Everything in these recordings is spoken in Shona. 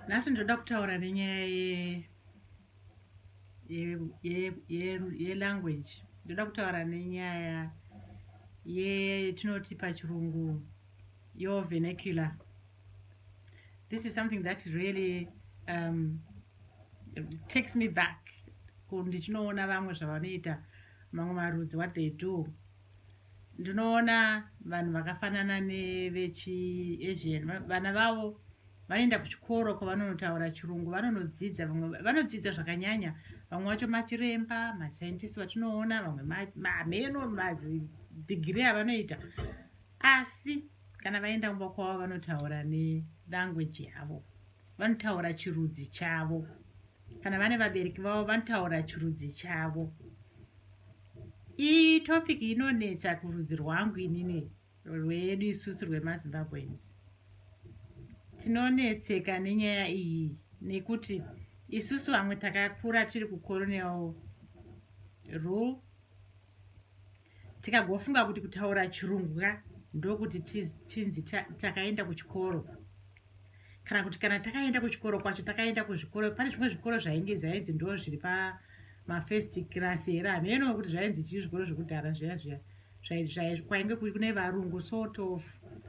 nhasi ndoda kutaura nenyaya yelanguage ndoda kutaura nenyaya yetinoti pachirungu yo venecular this is something that really um, takes me back ndichinoona vamwe zvavanoita mamwe marudzi what they do ndinoona vanhu vakafanana nevechiasian vana vavo vanoenda kuchikoro kwavanonotaura chirungu vanonodzidza vamwe vanodzidza zvakanyanya vamwe vacho machiremba mascientist vatinoona vamwe mameno madhigiri avanoita asi kana vaenda kumba kwavo vanotaura nelanguage yavo vanotaura chirudzi chavo kana vane vabereki vavo vanotaura chirudzi chavo iyi topic inonetsa kurudzi rwangu inini rwedu isusu rwemazimbabweans tinonetseka nenyaya iyi nekuti isusu vamwe takakura tiri kucoronel rule tikagofunga kuti kutaura chirungu ka ndokuti tinzi takaenda kuchikoro kana kuti kana takaenda kuchikoro kwacho takaenda kuzvikoro pane zvimwe zvikoro zvainge zvainzi ndo zviri pamafirst class here hameno kuti zvainzi chii zvikoro zvekudhara zviya zviya kwainge kune varungu sort of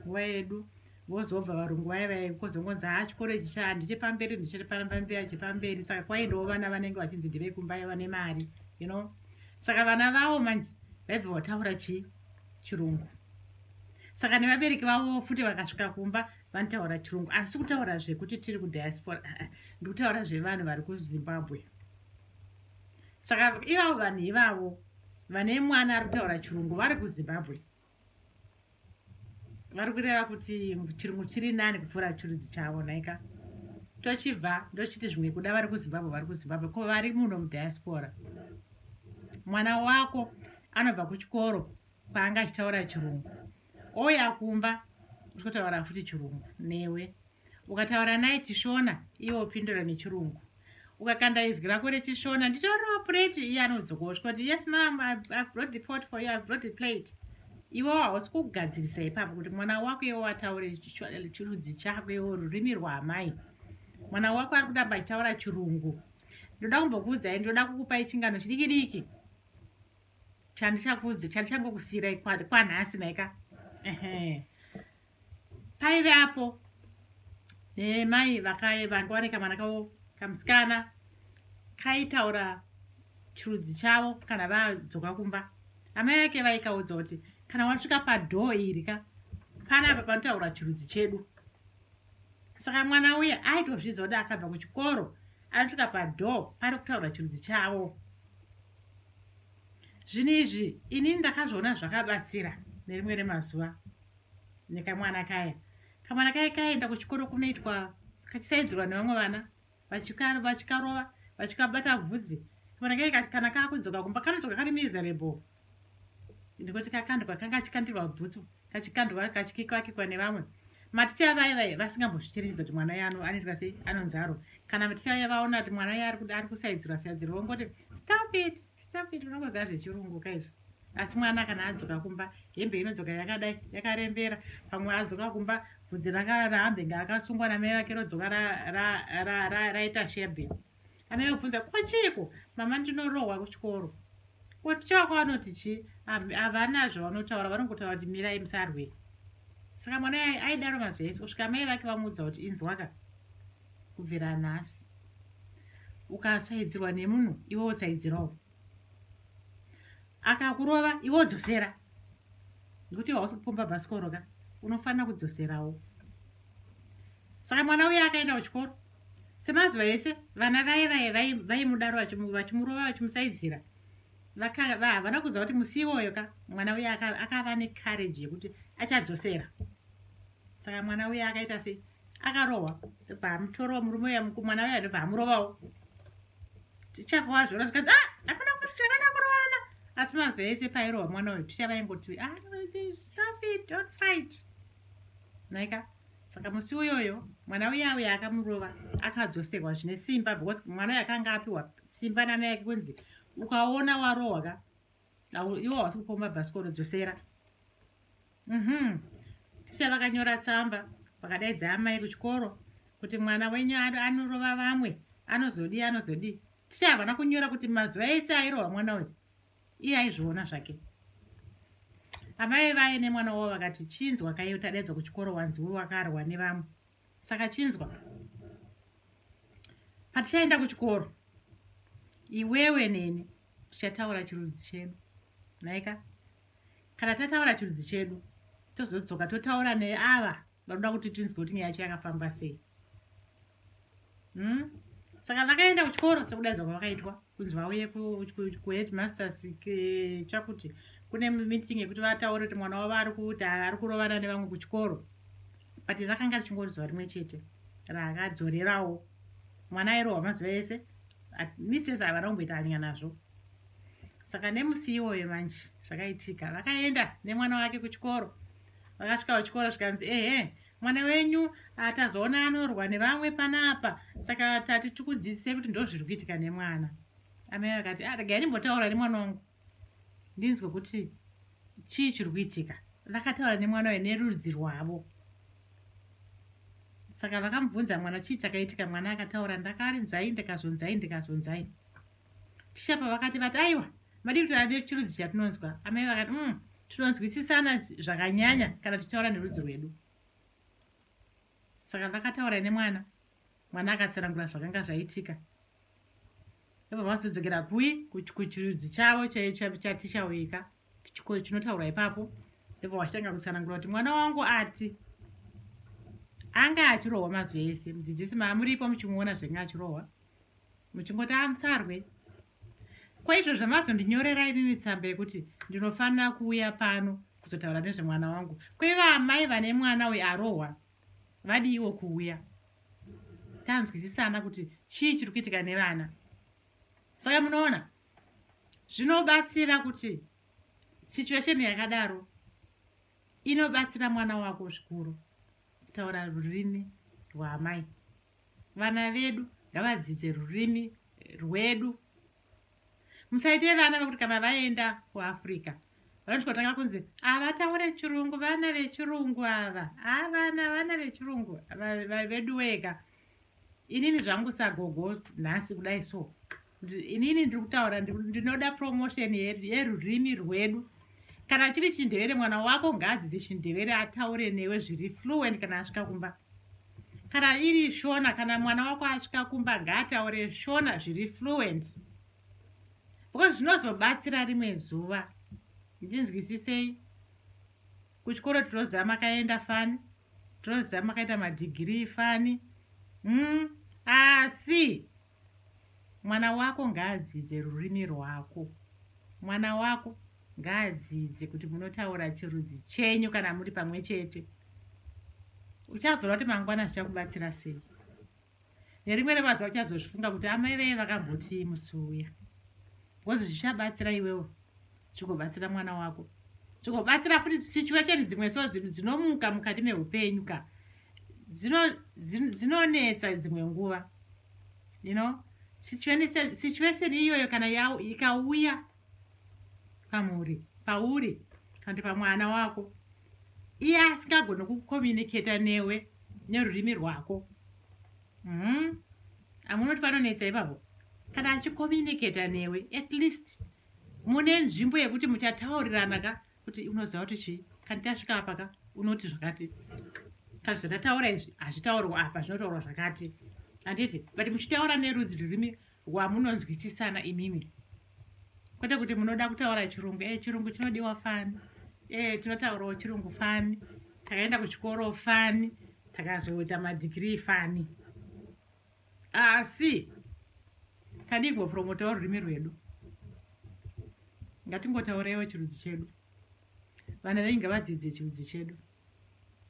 nguva yedu vozobva varungu vaye vaye kozongonzi haa chikoro ichi chaa ndichepamberi ndichepamberi chepamberi saka kwaendawo vana vanenge vachinzi ndevekumbaye vane mari you know saka vana vavo manje vaibva vataura chii chirungu saka nevabereki vavo futi vakasvika kumba vanotaura chirungu asi kutaura zvekuti tiri kudiaspora ah, ah, ndikutaura zvevanhu vari kuzimbabwe saka ivavo vanhu ivavo vane mwana ari kutaura chirungu vari kuzimbabwe vari kureva kuti chirungu chiri nani kupfuura chirudzi chavo nhaika tochibva ndochiti zvimwe kuda vari kuzimbabwe vari kuzimbabwe ko vari muno mudiaspora mwana wako anobva kuchikoro kwaanga achitaura chirungu ouya kumba uchotaura futi chirungu newe ukataura naye chishona iwe upindura nechirungu ukakanda izwi rako rechishona nditoriwo plate iye anodzoka osvika kuti yes mam i've brought the pot for you i've brought the plate iwe hausi kugadzirisa ipapo kuti mwana wako iwe wataure chirudzi chako iwe rurimi rwaamai mwana wako ari kutamba achitaura chirungu ndoda kumbokuudzai ndoda kukupai chingano chidiki diki chandichakuudza chandichangokusiirai kwanhasi naika uh -huh. paive apo nemai vakaye vanga vane kamwana kavo kamusikana kaitaura chirudzi chavo kana vadzoka kumba amai vake vaikaudza kuti kana wasvika padhoo iri ka pana apa panotaura chirudzi chedu saka mwana uya aitozviziva kuti akabva kuchikoro anosvika padhoo pari kutaura chirudzi chavo zvinhu izvi inini ndakazviona zvakabatsira nerimwe remazuva nekamwana kaya kamwana kaya kaenda kuchikoro kunoitwa kachisaidzirwa nevamwe vana vachikarova vachikabata bvudzi kamwana kaya kana kakudzoka kumba kanodzoka kari miserable ndikuti kakandwa kanga kachikandirwa bhutsu kachikandwa kachikikakikwa nevamwe maticha vaye vaye vasingambozvichirinidza kuti mwana yano anoitwa sei anonzaro kana maticha vaye vaona kuti mwana yaye ari kusaidzirwa saidzirwa vongoti stop it Stop it, unokoza zvechirungu ka izvi. Asi mwana kana adzoka kumba, hembe inodzoka yakadai, yakarembera. Pamwe adzoka kumba, vhudzi ranga raambe nga akasungwa na mai vake rodzoka ra ra ra ra raita shebe. Amai vakubvunza, "Ko chiiko? Mama ndinorohwa kuchikoro." Ko chako anoti chi? Havana zvavanotaura, vanongotaura kuti mirai musarwe. Saka mwana aidaro mazwi ese kusvika mai vake vamuudza kuti inzwaka. kubvira nhasi ukatsvaidzirwa nemunhu iwe wotsvaidzirawo akakurova iwe wodzosera nekuti iwe hausi kupomba bhasikoro ka unofanira kudzoserawo saka mwana uye akaenda kuchikoro semazuva ese vana vaye vaye vaimudaro vachimurova vachimusaidzira havana kuziva kuti musi iwoyo ka mwana uye akava necourage yekuti achadzosera saka mwana uya akaita sei akarohwa ndobva amutorawo murume uya mwana uya ndobva amurovawo tichavawa zvona zvikanzi ah, hakuna kuti chakana kurovana asi mazuva ese pairohwa mwana uyo ticha vaingoti ah, stop it don't fight naika saka musi uyoyo mwana uya uya akamurova akadzoserwa zvine simba because mwana uyo akanga apiwa simba nana yake kunzi ukaona warohwa ka iwo hawasi kupa mabhasikoro dzosera mhm ticha vakanyora tsamba vakadaidza amai kuchikoro kuti mwana wenyu anorova vamwe anozodii anozodii ticha havana kunyora kuti mazuva ese airova mwana uyu iye aizviona zvake amai vaye nemwana wavo vakati chinzwa kaiyo tadaidzwa kuchikoro wanziwo wakarwa nevamwe saka chinzwa patichaenda kuchikoro iwewe neni tichataura chirudzi chedu naika kana tataura chirudzi chedu tozodzoka totaura neava vanoda kuti tinzwe kuti nyaya yacho yakafamba sei hmm? saka vakaenda kuchikoro sekudaidzwa kwavakaitwa kunzi vauye kuheadmasters chakuti kune meeting yekuti vataure kuti mwana wavo ari kuti ari kurovana nevamwe kuchikoro but rakanga richingori zuva rimwe chete rakadzorerawo mwana airohwa mazuva ese mistress havana kumboita hanyaya nazvo saka nemusi iwoyo manje zvakaitika vakaenda nemwana wake kuchikoro vakasvika kuchikoro zvikanzi ehe mwana wenyu atazoona anorwa nevamwe panapa saka tati tikudzidzisei kuti ndozviri kuitika nemwana amai vakati ah, regai ndimbotaura nemwana wangu ndinzwe kuti chii chiri kuitika vakataura nemwana uyo nerudzi rwavo saka vakamubvunza mwana chii chakaitika mwana akataura ndakarinzai ndikazonzai ndikazonzai ticha pavakati vati aiwa madii kuti ade chirudzi chatinonzwa amai vakati um tinonzwisisana zvakanyanya kana tichitaura nerudzi rwedu saka vakataura nemwana mwana akatsanangura zvakanga zvaitika ivo vazodzokera kui kuchirudzi chavo chatichauyika chikoro chinotaurwa ipapo ivo vachitanga kutsanangura kuti mwana wangu ati anga achirohwa mazuva ese mudzidzisi maamuripo muchimuona zvenga achirohwa muchingoti amusarwe ah, kwaizvo zvamazondinyorera inini tsamba yekuti ndinofanira kuuya pano kuzotaura nezvemwana wangu kweva amai vane mwana uyo arohwa vadiiwo kuuya tanzwisisana kuti chii chiri kuitika nevana saka munoona zvinobatsira kuti situation yakadaro inobatsira mwana wako zvikuru taura rurimi rwaamai vana vedu ngavadzidze rurimi rwedu musaite vana vekuti kana vaenda kuafrica vanochikotanga kunzi havataure chirungu vana vechirungu ava avana vana vechirungu vedu weka inini zvangu sagogo nhasi kudai so inini ndiri kutaura ndinoda promotion yerurimi rwedu kana chiri chindevere mwana wako ngaadzidze chindevere ataure newe zviri fluent kana asvika kumba kana iri shona kana mwana wako asvika kumba ngaataure shona zviri fluent because zvinozobatsira rimwe zuva ndinzwisisei kuchikoro tinoziva makaenda fani tinoziva makaita madhigirii fani mm, asi ah, mwana wako ngaadzidze rurimi rwako mwana wako ngaadzidze kuti munotaura chirudzi chenyu kana muri pamwe chete uchazoona kuti mangwana zvichakubatsira sei nerimwe remazuva uchazozvifunga kuti amai veye vakambotii musi uya bcause zvichabatsira iwewo zvigobatsira mwana wako zvigobatsira futi situation dzimwe so dzinomuka mukati meupenyu ka dzinonetsa dzimwe nguva you know situation iyoyo kana ikauya pamuri pauri kandi pamwana wako iye asingagoni kucommunicata newe nerurimi rwako mm. amunoti panonetsa ipapo kana achicommunicata newe at least mune nzvimbo yekuti muchataurirana ka kuti unoziva kuti chii kandi tasvika apa ka unoti zvakati kandi zvandataura izvi hazvitaurwa apa zvinotaurwa zvakati handiti but muchitaura nerudzi rurimi rwamunonzwisisana imimi kwete kuti munoda kutaura chirungu e chirungu chinodiwa fani e tinotaurawo chirungu fani takaenda kuchikoro fani takazoita madhigirii fani asi tadii kupromotawo rurimi rwedu ngatingotaureiwo chirudzi chedu vana venyu ngavadzidze chirudzi chedu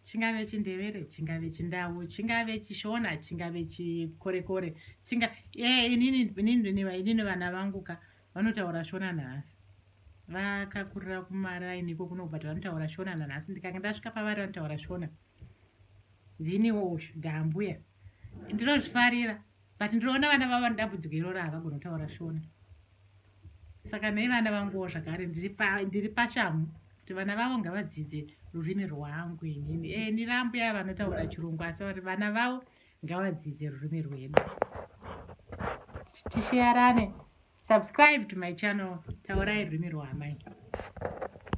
chingave chindevere chingave chindau chingave chishona chingave chikorekore chinga e inini vana vangu ka vanotaura shona nhasi vakakurira kumaraini iko kunobva tavanotaura shona nanhasi ndikanga ndasvika pavari vanotaura shona ndiniwo uyu ndaambuya ndinozvifarira but ndinoona vana vavo vanodambudziko iroro havagona kutaura shona saka nei vana vanguwo zvakare ndiri pashamhu kuti vana vavo ngavadzidze rurimi rwangu inini e eh, nirambo yava vanotaura chirungu asi vari vana vavo ngavadzidze rurimi rwedu tisheyarane subscribe to my channel taurai rurimi rwaamai